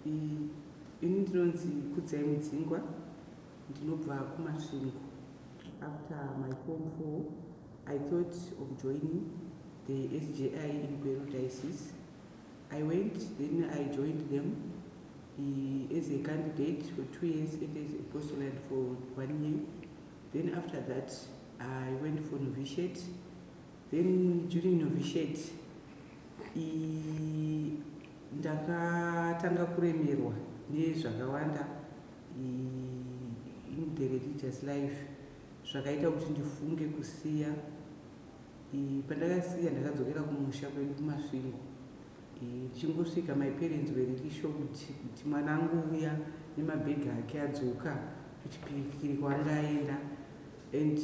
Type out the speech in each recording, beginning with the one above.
Ini ndinonzi Kudzai Mudzingwa ndinobva kuMasvingo. After my form 4 I thought of joining the SJI in Gweru Diocese. I went then I joined them uh, as a candidate for two years and as a postulant for one year. Then after that I went for novitiate Then during novitiate iyi ndakatanga kuremerwa nezvakawanda in the religious life zvakaita kuti ndifunge kusiya pandakasiya ndakadzokera kumusha kwedu kumasvingo ndichingosvika my parents were really shocked kuti mwana angouya nemabhegi ake adzoka kuchipirikiri kwaanga aenda and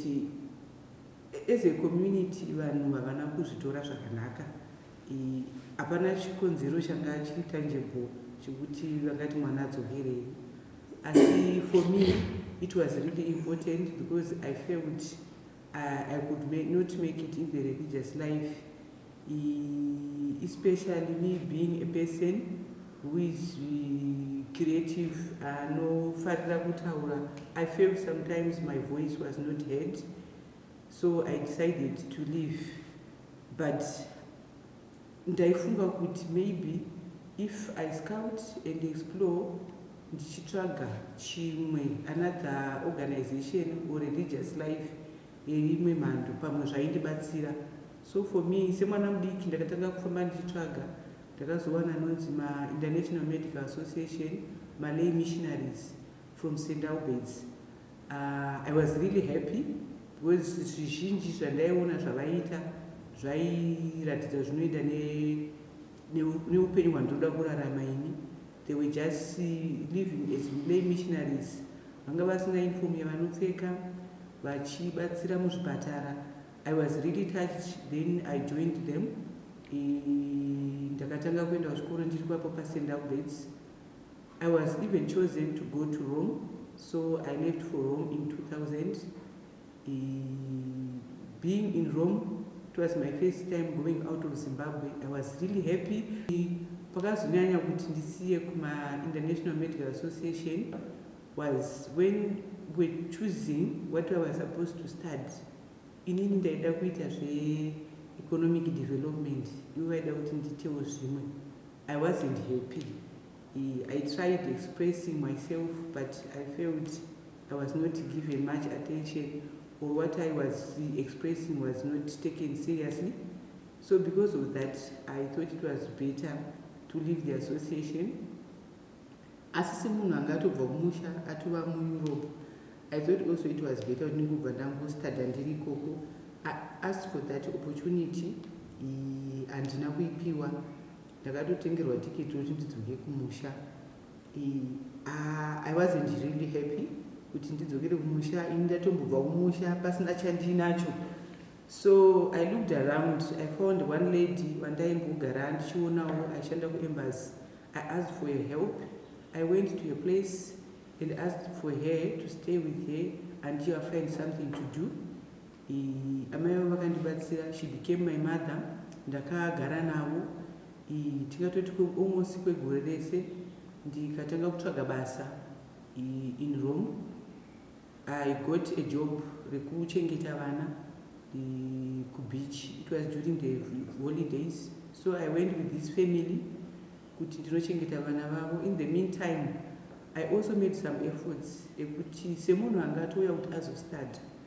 As a community vanhu havana kuzvitora zvakanaka. Hapana chikonzero changa chiri tangible chekuti vangati mwana adzokerei. Asi for me it was really important because I felt uh, I could make, not make it in the religious life. Especially me being a person who is creative anofarira kutaura i felt sometimes my voice was not heard so I decided to leave but ndaifunga kuti maybe if I scout and explore ndichitsvaga chimwe another organization or religious life yeimwe mhando pamwe zvaindibatsira so for me semwana mudiki ndakatanga kufamba ndichitsvaga ndakazowana anonzi mainternational medical association malay missionaries from st alberts Uh, I was really happy because zvizhinji zvandaiona zvavaiita zvairatidza zvinoenda neupenyu hwandinoda kurarama ini they were just living as lay missionaries vanga vasina inform yavanopfeka vachibatsira muzvipatara i was really touched then i joined them ndakatanga kuenda kuchikoro ndiri kwapo pasendalbeds I was even chosen to go to Rome so I left for Rome in 2000 e, being in Rome it was my first time going out of Zimbabwe I was really happy pakazonyanya kuti ndisiye kuma International Medical Association was when we choosing what I was supposed to study inini ndaida kuita zve economic development ivo vaida kuti nditewo zvimwe I wasn't happy I tried expressing myself but I felt I was not given much attention or what I was expressing was not taken seriously. So because of that, I thought it was better to leave the association. Asi se munhu anga atobva kumusha atova muEurope, I thought also it was better kuti ndingobva ndangostada ndiri ikoko. I asked for that opportunity, handina kuipiwa. Ndakatotengerwa ticket rekuti ndidzoke kumusha. I wasn't really happy kuti ndidzokere kumusha ini ndatombobva kumusha pasina chandinacho so i looked around i found one lady vandaimbogara ndichionawo aishanda kuembas i asked for her help i went to her place and asked for her to stay with her until i find something to do Amai avo vakandibatsira, she became my mother, ndakagara navo tingatoti almost kwegore rese ndikatanga kutsvaga basa in Rome. I got a job rekuchengeta vana kubeach, it was during the holidays so I went with this family kuti ndinochengeta vana vavo. In the meantime I also made some efforts ekuti semunhu anga atouya kuti azostudya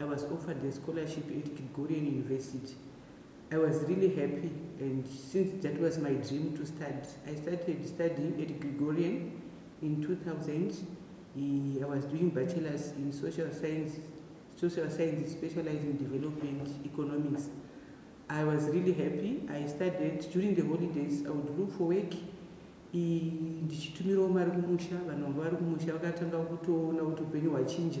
I was offered a scholarship at Gregorian University. I was really happy and since that was my dream to study, I started studying at Gregorian in 2000. I was doing bachelor's in social science, social science specializing development economics. I was really happy. I studied during the holidays. I would look for work. ndichitumirawo mari kumusha vanhu vanga vari kumusha vakatanga kutoona kuti upenyu hwachinja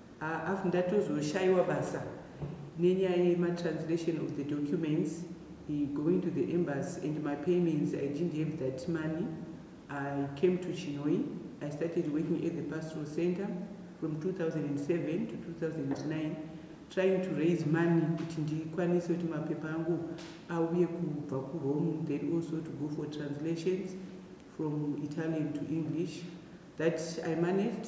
Haaf ndatozoshaiwa basa nenyaya yema translation of the documents going to the embassy and my payments I didn't have that money I came to Chinhoyi I started working at the pastoral center from 2007 to 2009 trying to raise money kuti ndikwanise kuti mapepa angu auye kubva kurome then also to go for translations from italian to english that i managed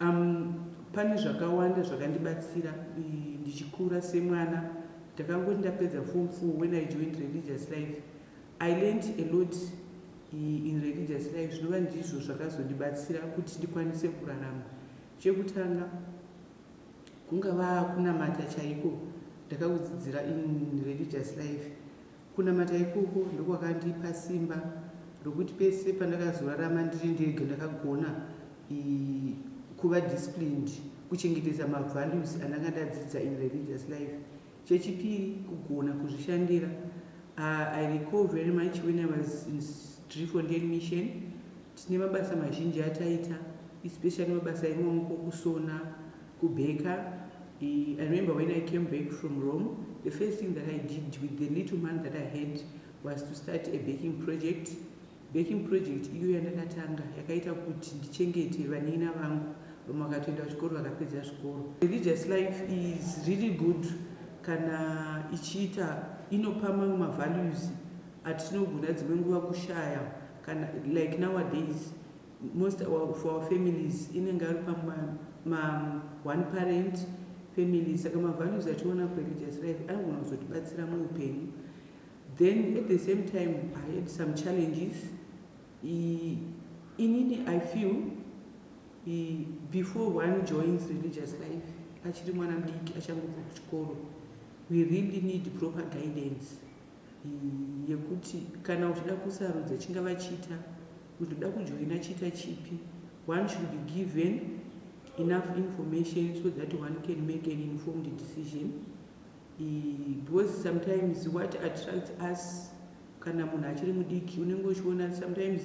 Umm pane zvakawanda zvakandibatsira ndichikura semwana ndakangoti ndapedza form four when I joined religious life I learnt a lot in religious life zvinova ndizvo zvakazondibatsira kuti ndikwanise kurarama chekutanga kungava kunamata chaiko ndakakudzidzira in religious life Kunamata ikoko ndokwakandipa simba rokuti pese pandakazorarama ndiri ndega ndakagona kuva disciplined kuchengetedza mavalues andanga ndadzidza in religious life. Chechipiri kugona kuzvishandira. I recall very much when I was in Driefontein mission tine mabasa mazhinji ataita especially mabasa emaoko kusona Ku baker i remember when i came back from Rome the first thing that i did with the little money that i had was to start a baking project baking project iyo yandakatanga yakaita kuti ndichengete vanina vangu vamwe vakatoenda kuchikoro vakapedza zvikoro religious life is really good kana ichiita inopa mamwe mavalues atinogona dzimwe nguva kushaya kana like nowadays Most of our families inenge ari pama ma one parent family saka mavalues ationa kureligious life anogona kuzotibatsira muupenyu then at the same time i had some challenges I, inini i feel I, before one joins religious life achiri mwana mudiki achangobva kuchikoro we really need proper guidance yekuti kana uchida kusarudza chingava chita kuti uda kujoina chita chipi one should be given enough information so that one can make an informed decision because sometimes what attracts us kana munhu achiri mudiki unenge uchiona sometimes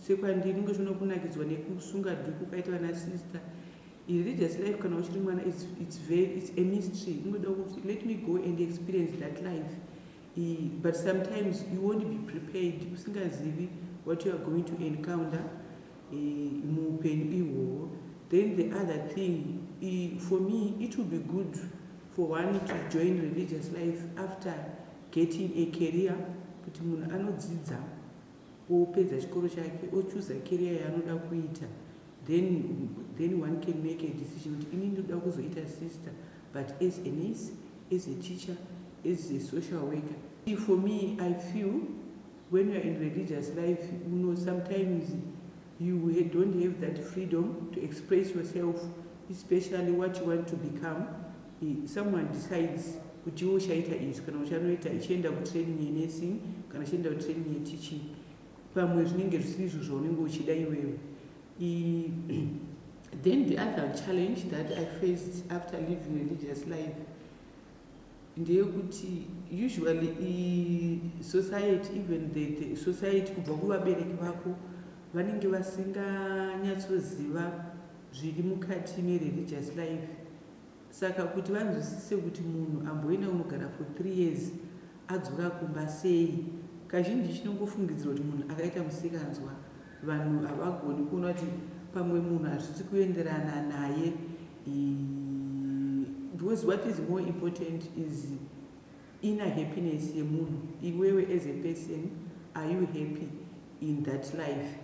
sekwandiri unenge uchiona kunakidzwa nekusunga dhuku kaita vana sister Religious life kana uchiri mwana it's, it's, very, it's a mystery unoda kuti let me go and experience that life I, but sometimes you won't be prepared usingazivi what you are going to encounter muupenyu ihwohwo then the other thing I, for me it will be good for one to join religious life after getting a career kuti munhu anodzidza opedza chikoro chake ochooser career yaanoda kuita then then one can make a decision kuti ini ndoda kuzoita sister but as a nurse as a teacher as a social worker for me i feel when youare in religious life uno sometimes You he don't have that freedom to express yourself especially what you want to become he, someone decides kuti iwe uchaita izvi kana uchanoita ichienda kutraining yenursing kana uchienda kutraining yeteaching pamwe zvinenge zvisiri izvo zvaunenge uchida iwewe then the other challenge that i faced after living religious life ndeyekuti usually society even the, the society kubva kuvabereki vako vanenge vasinganyatsoziva zviri mukati mereligious life saka kuti vanzwisise kuti munhu amboenda kunogara for three years adzoka kumba sei kazhinji chinongofungidzirwa kuti munhu akaita musikanzwa vanhu havagoni kuona kuti pamwe munhu hazvisi kuenderana naye Because what is more important is inner happiness yemunhu iwewe as a person are you happy in that life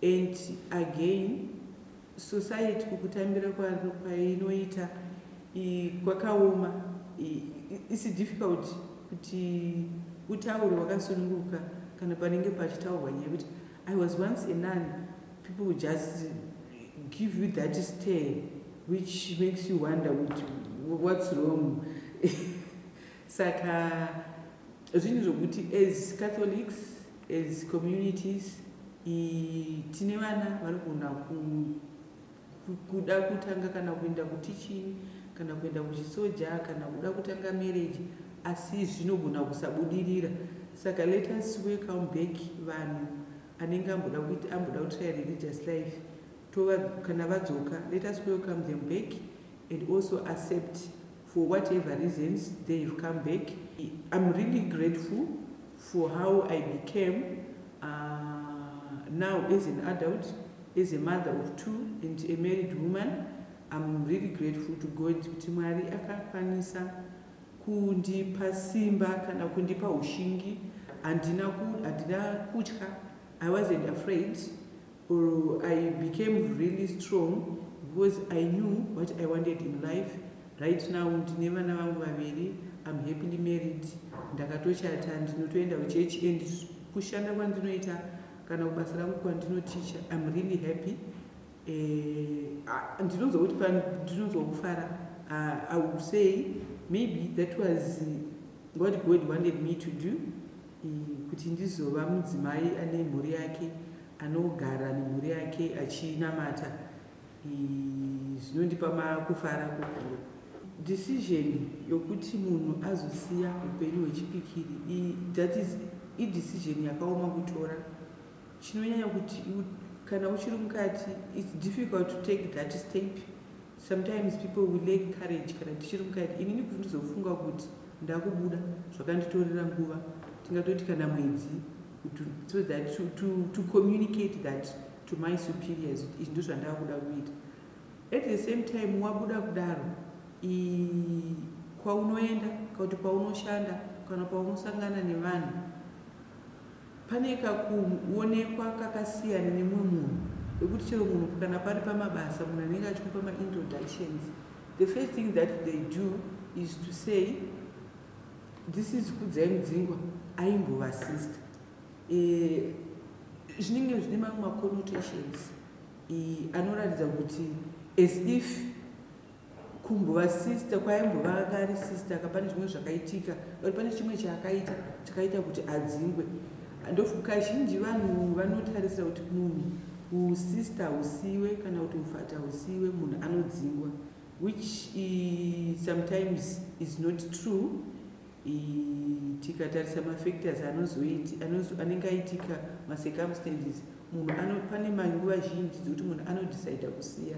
and again society kukutambira kwaro kwainoita kwakaoma isi difficult kuti utaure wakasununguka kana panenge pachitaurwa nyaya kuti I was once a nun, people will just give you that stare which makes you wonder which, what's wrong saka zvinhu zvokuti as catholics as communities tine vana vanogona ku kuda kutanga kana kuenda kuteaching kana kuenda kuchisoja kana kuda kutanga marriage asi zvinogona kusabudirira saka let us welcome back vanhu anenge amboda kuti amboda kutry religious life tova kana vadzoka let us welcome them back and also accept for whatever reasons they have come back I'm really grateful for how I became uh, now as an adult as a mother of two and a married woman I'm really grateful to God kuti Mwari akakwanisa kundipa simba kana kundipa ushingi handina kutya I wasn't afraid or i became really strong because i knew what i wanted in life right now ndine vana vangu vaviri am happily married ndakatochata ndinotoenda kuchechi and kushanda kwandinoita kana kubasa rangu kwandinoticha im really happy eh, ndinonzwa kuti ndinonzwa kufara ah, i will say maybe that was what god wanted me to do eh, kuti ndizova mudzimai ane mhuri yake anogara nemhuri yake achinamata zvinondipa makufara kukuru decision yokuti munhu azosiya upenyu hwechipikiri that is idecision yakaoma kutora chinonyanya kuti kana uchiri mukati its difficult to take that step Sometimes people will lack courage kana tichiri mukati inini kuti ndizofunga kuti ndakubuda zvakanditorera nguva tingatoti kana mwedzi so that to, to, to communicate that to my superiors kuti izvi ndozvandava kuda kuita at the same time wabuda kudaro kwaunoenda kakuti kwaunoshanda kana paunosangana nevanhu Pane kakuonekwa kakasiyana nemumwe munhu wekuti chero munhu kana pari pamabasa munhu anenge achikupa maintroductions the first thing that they do is to say this is kudzai mudzingwa aimbova sister eh, zvinenge e, zvine mamwe maconnotations e, anoratidza kuti as if kumbova sister kwaimbova anga ari sister ka pane zvimwe zvakaitika or pane chimwe chaakaita chakaita kuti adzingwe ndokazhinji vanhu vanotarisira kuti munhu usister usiwe kana kuti ufata usiwe munhu anodzingwa which uh, sometimes is not true tikatarisa mafactors anenge aitika macircumstances munhu pane manguva zhinji dzekuti munhu anodecida kusiya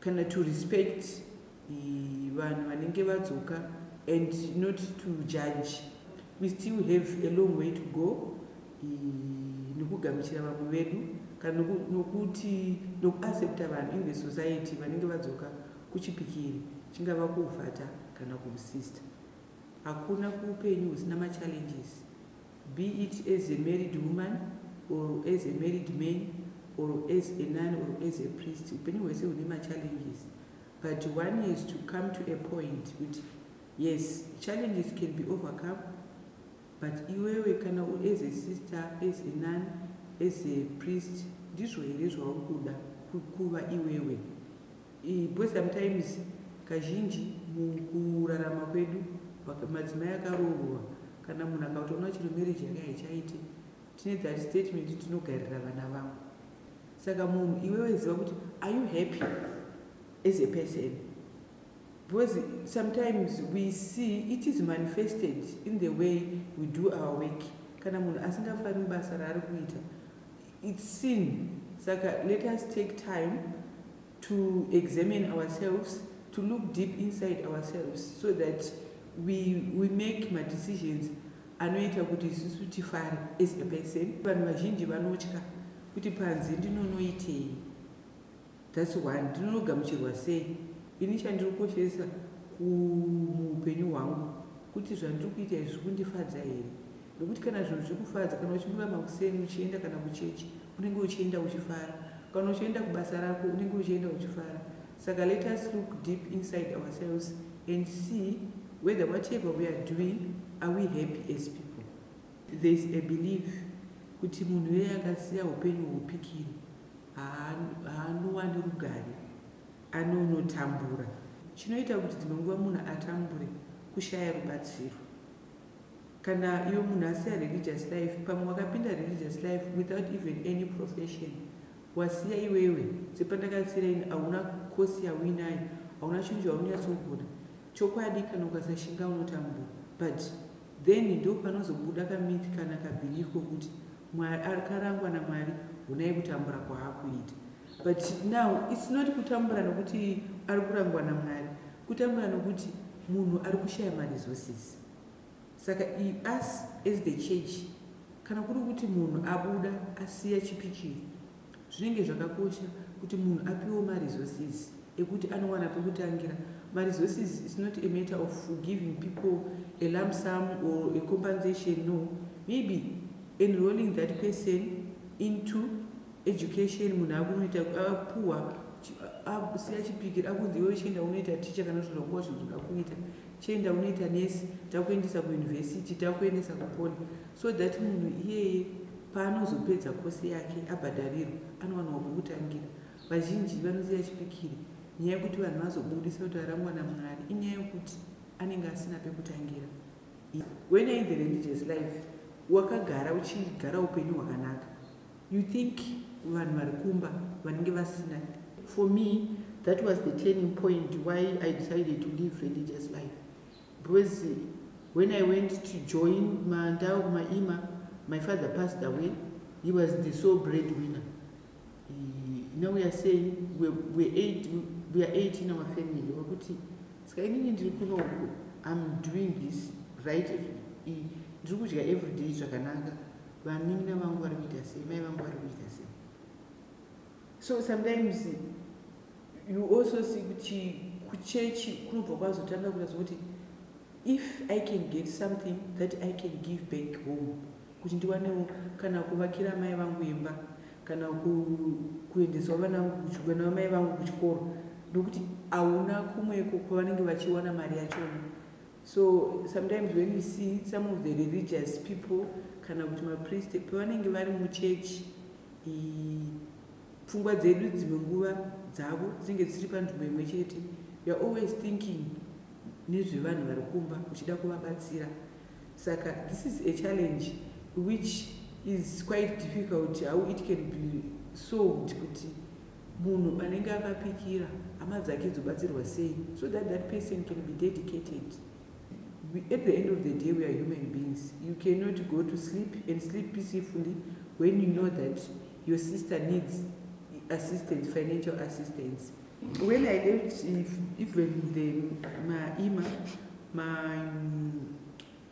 kana to respect vanhu vanenge vadzoka and not to judge we still have a long way to go nokugamuchira vamwe vedu kana nokuti nokuaccepta vanhu in the society vanenge vadzoka kuchipikiri chingava kuuvhata kana kuusista hakuna kuupenyu husina machallenges be it as a married woman or as a married man or as a nun or as a priest upenyu hwese hune machallenges but one has to come to a point kuti yes challenges can be overcome but iwewe kana as a sister as a nun as a priest ndizvo here zvauri kuda kuva iwewe Boys sometimes kazhinji mukurarama kwedu madzimai akaroorwa kana munhu akatoona chero marriage yake haichaite tine that statement tinogarira vana vangu saka munhu iwewe ziva kuti are you happy as a person because sometimes we see it is manifested in the way we do our work kana munhu asingafari mubasa raari kuita It's sin saka let us take time to examine ourselves to look deep inside ourselves so that we, we make madecisions anoita kuti isusu tifare as a person. Vanhu vazhinji vanotya kuti panze ndinonoitei. That's one ndinonogamuchirwa sei ini chandiri kukoshesa kumuhupenyu hwangu kuti zvandiri kuita izvi zvikundifadza here nekuti kana zvinhu zvikufadza kana uchimuka makuseni uchienda kana kuchechi unenge uchienda uchifara kana uchienda kubasa rako unenge uchienda uchifara saka let us look deep inside ourselves and see whether whatever we are doing are we happy as people thereis a believe kuti munhu eye akasiya upenyu hupikiri haanowani rugare anonotambura chinoita kuti dzimwe nguva munhu atambure kushaya rubatsiro kana iwe munhu asiya religious life pamwe wakapinda religious life without even any profession wasiya iwewe sepandakatsira ini hauna kosi yauinayo hauna chinhu chaunonyatsogona chokwadi kana ukasashinga unotambura but Then ndopanozobuda ka myth kana ka belief kokuti Mwari akarangwa na Mwari honai kutambura kwaakuita. But now it's not kutambura nokuti arikurangwa na Mwari kutambura nokuti munhu arikushaya ma resources. Saka i us as the church kana kuri kuti munhu abuda asiya chipi chiri. Zvinenge zvakakosha kuti munhu apiwewo ma resources ekuti anowana pekutangira. Ma resources is not a matter of giving people a lump sum or a compensation no maybe enrolling that person into education munhu akunoita apuwa akusiya chipikiri akunzi iwewe chienda unoita ticha kana kuti zvakuwa zvinhu zvakakuita chienda unoita nesi takuendesa kuuniversity takuendesa kupoli so that munhu iyeye Paanozopedza course yake abhadharirwa anowanawo pokutangira. Vazhinji vanosiya chipikiri nyaya yekuti vanhu vazobudisa kuti arangwa naMwari inyaya yekuti anenge asina pekutangira. When you're in the religious life wakagara uchigara upenyu hwakanaka you think vanhu vari kumba vanenge vasina. For me that was the turning point why I decided to live religious life Because when I went to join ma ndava kuma Ima, my father passed away, he was the sole breadwinner. He, now we are saying we, we, eight, we are eight in our family. Wakuti, ska inini ndiri kuno uku, I'm doing this right, ndiri kudya every day zvakanaka. Vanin'ina vangu vari kuita sei, mai vangu vari kuita sei. So sometimes you also see kuti kuchechi kunobva kwazotanga kuita zvokuti if i can get something that i can give back home kuti ndiwanewo kana kuvakira amai vangu imba kana kuendeswa vana vana vamai vangu kuchikoro ndokuti hauna kumweko kwavanenge vachiwana mari yachona So sometimes when you see some of the religious people kana kuti mapriest pavanenge vari muchechi pfungwa dzedu dzimwe nguva dzavo dzinenge dzisiri panzvimbo imwe chete youare always thinking nezvevanhu vari kumba uchida kuvabatsira saka this is a challenge which is quite difficult how it can be solved kuti Munhu anenge akapikira hama dzake dzobatsirwa sei so that that person can be dedicated. At the end of the day we are human beings. You cannot go to sleep and sleep peacefully when you know that your sister needs assistance, financial assistance. When I left even the, my ima, my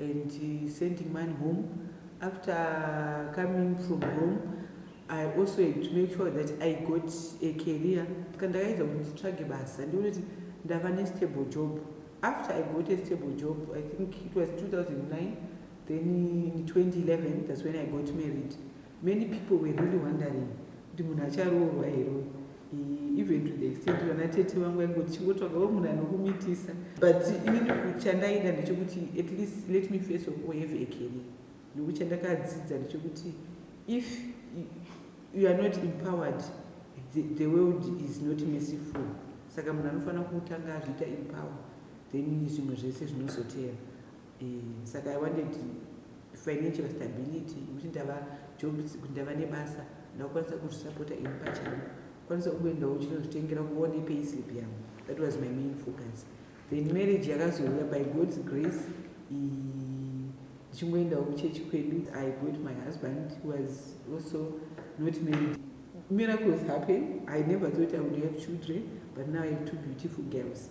and sending money home after coming from home i also had to make sure that i got a career ska ndakaedza kuti nditsvage basa ndione kuti ndava nestable job after i got a stable job i think it was 2009 then in 2011 thats when i got married Many people were really wondering kuti munhu acharoorwa here uyu e, even to the extent vana tete vangu vaingoti chingotsvagawo munhu anokumitisa but inini kuchandaida ndechekuti at least let me face of all have a career nokuti chandakadzidza ndechekuti if you are not empowered the, the world is not merciful saka munhu anofanira kutanga azviita empower then zvimwe zvese zvinozoteera Eeh saka I wanted financial stability yekuti ndava job kuti ndava nebasa ndakukwanisa kuzvisapota ini pachangu kwanisa kungoendawo uchinozvitengera kuone payslip yangu that was my main focus then marriage yakazouya by god's grace ndichingoendawo kuchechi kwedu i got my husband was also not married miracles happen i never thought i would have children but now i have two beautiful girls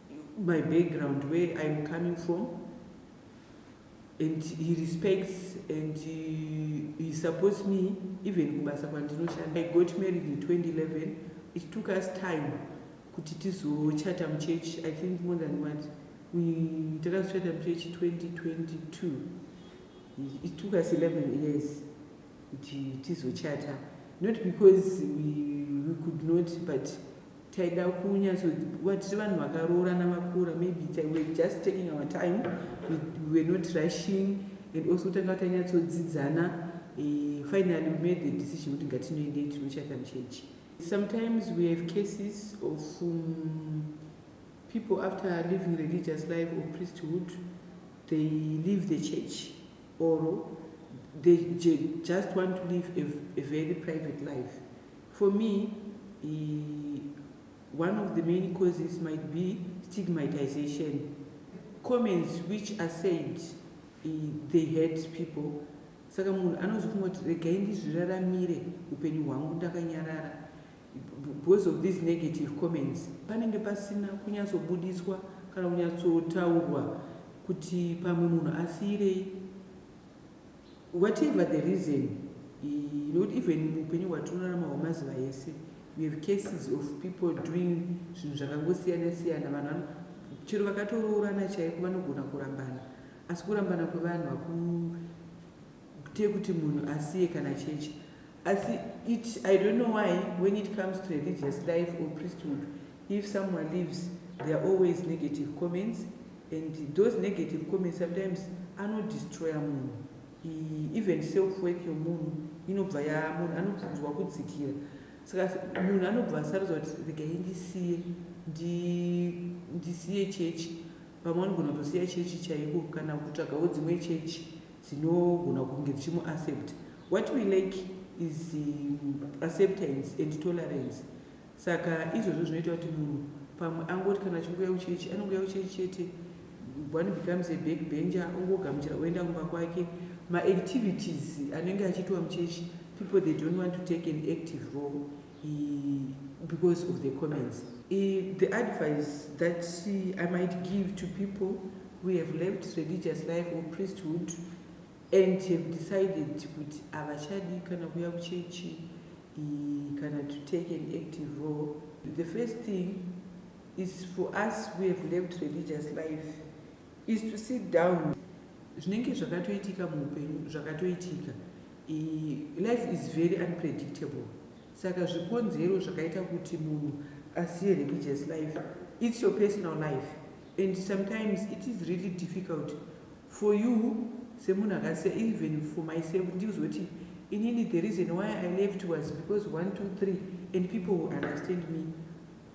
my background where I'm coming from and he respects and he, he supports me even kubasa kwandinoshanda i got married in 2011 it took us time kuti tizochata muchechi i think more than what takazochata muchechi 2022 it took us 11 years kuti tizochata not because we, we could not but taida kunyatsowa tiri vanhu vakaroorana vakura maybe were just taking our time we were not rushing and also tanga tanyatsodzidzana eh, finally we made the decision kuti ngatinoendei tinochata muchechi sometimes we have cases of um, people after living religious life or priesthood they leave the church or they just want to live a, a very private life For me ii one of the main causes might be stigmatization comments which are said ii they hurt people saka munhu anozofunga kuti regai ndizviraramire upenyu hwangu ndakanyarara because of these negative comments panenge pasina kunyatsobudiswa kana kunyatsotaurwa kuti pamwe munhu asiirei Whatever the reason, nokuti even muupenyu hwatinorarama hwemazuva ese we have cases of people doing zvinhu zvakangosiyana siyana vanhu chero vakatoroorana chaiko vanogona kurambana asi kurambana kwevanhu hakuite kuti munhu asiye kana chechi asi it i don't know why when it comes to religious life or priesthood if someone lives there are always negative comments And those negative comments sometimes ano destroyer munhu even self worth yomunhu inobva yaa munhu anobvunzwa kudzikira saka munhu anobva asarudza kuti regai ndisiye ndisiye chechi vamwe vanogona kutosiya chechi chaiko kana kutsvagawo dzimwe chechi dzinogona kunge dzichimuaccept what we like is um, acceptance and tolerance Saka izvozvo zvinoita kuti munhu pamwe angoti kana achingouya kuchechi anongouya kuchechi chete one becomes a back bencher ongogamuchira oenda kumba kwake maactivities anenge achiitwa muchechi people they don't want to take an active role because of the comments I, the advice that i might give to people who have left religious life or priesthood and have decided kuti havachadi kana kuya kuchechi kana to take an active role the first thing is for us who have left religious life is to sit down zvinenge zvakatoitika muupenyu zvakatoitika life is very unpredictable saka zvikonzero zvakaita kuti munhu asiye religious life its your personal life and sometimes it is really difficult for you semunhu akasiya even for myself ndikuzoti inini the reason why i left was because 1 2 3 and people will understand me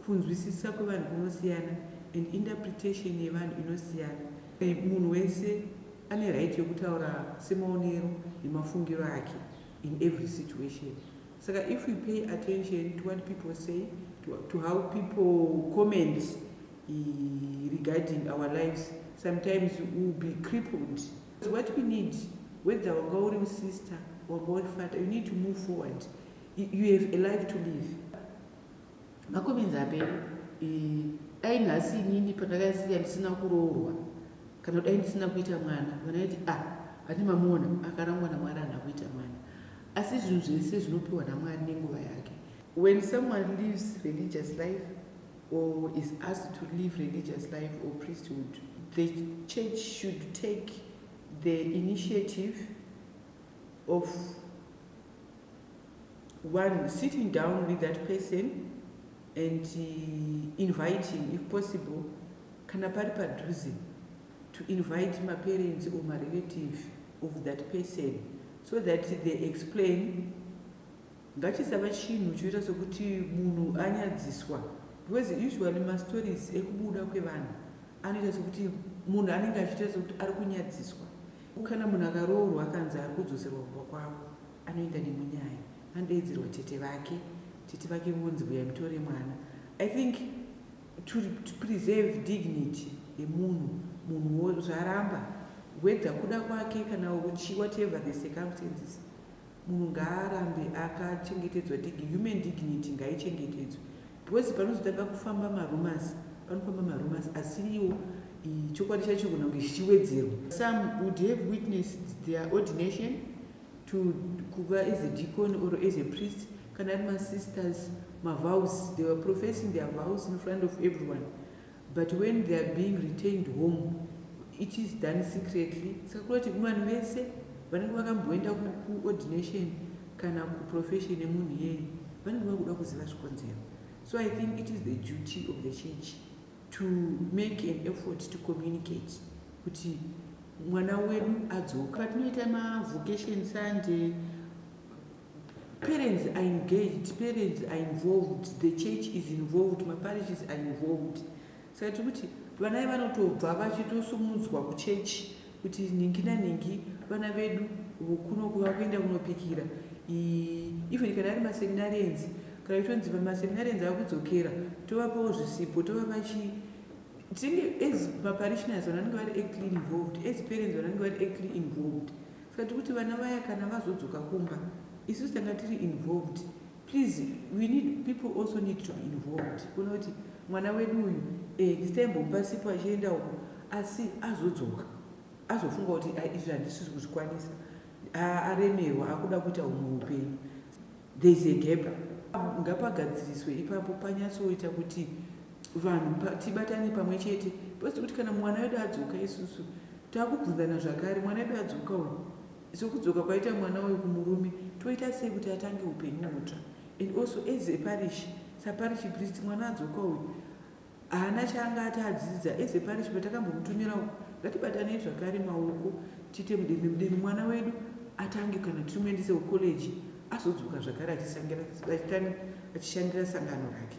kunzwisisa kwevanhu kunosiyana and interpretation yevanhu inosiyana munhu wese ane right yekutaura semaonero nemafungiro ake in every situation Saka if we pay attention to what people say, to, to how people comment eh, regarding our lives, sometimes we will be crippled. So what we need, whether wanga uri usister, wanga uri father, you need to move forward. You, you have a life to live. Makomenzi apere, eh, dai nhasi inini pandakasiya ndisina kuroorwa kana dai ndisina kuita mwana vanaiti a ah, ati mamuona akarangwa namwari ana kuita mwana Asi zvinhu zvese zvinopiwa naMwari nenguva yake. When someone lives religious life or is asked to live religious life or priesthood, the church should take the initiative of one sitting down with that person and uh, inviting if possible kana pari padhuze to invite ma parents or ma relative of that person so that they explain ngachisava chinhu choita sokuti munhu anyadziswa because usually ma stories ekubuda kwevanhu anoita sokuti munhu anenge achiita sokuti ari kunyadziswa kana munhu akaroorwa akanzi ari kudzoserwa kumba kwavo anoenda nemunyaya anodeedzerwa tete vake tete vake vonzi vuya mutore mwana i think to preserve dignity yemunhu munhuwo zvaramba whether kuda kwake kana uchi whatever the circumstances munhu ngaarambe akachengetedzwa dig human dignity ngaichengetedzwe because panozotanga kufamba marumas panofamba marumas asiriwo chokwadi chacho kuna kunge chichiwedzerwa some would have witnessed their ordination to kuva as a deacon or as a priest kana ari masisters mavows they were professing their vows in front of everyone but when they are being retained home it is done secretly saka kuda kuti vanhu vese vanenge vakamboenda kuordination kana kuprofession yemunhu iyeye vanenge vakuda kuziva zvikonzero so i think it is the duty of the church to make an effort to communicate kuti mwana wedu adzoka patinoita mavocation sunday parents are engaged parents are involved the church is involved maparishes are involved saka tiri kuti vanai vanotobva vachitosumudzwa kuchechi kuti nhingi nanhingi vana vedu vokuno kuva kuenda kunopikira even kana ari maseminarians kana itonzi maseminarians ava kudzokera tovapawo zvisipo tovapa chii tinenge as maparishioners vanange vari actly involved as parents vanange vari actly involved saka tiri kuti vana vaya kana vazodzoka kumba isu tanga tiri involved Please, we need people also need to be involved. Kunoti mwana wedu uyu eh, this time bomba sipo achienda uko asi azodzoka azofunga kuti ah, izvi handisisi kuzvikwanisa ah, aremerwa akuda kuita humwe upenyu there is a gap ngapagadziriswe ipapo panyatsoita kuti vanhu tibatane pamwe chete pasi kuti kana mwana wedu adzoka isusu takubvunzana zvakare mwana wedu adzoka uyu So kudzoka kwaita mwana uyu kumurume toita sei kuti atange upenyu hutsva and also as a parish saparish priest mwana adzoka uyu haana chaanga ati adzidza as a parish patakambomutumira uku ngatibatanei zvakare maoko tiite mudembe mudembe mwana wedu atange kana tichimuendese kucollege azodzoka zvakare achishandira sangano rake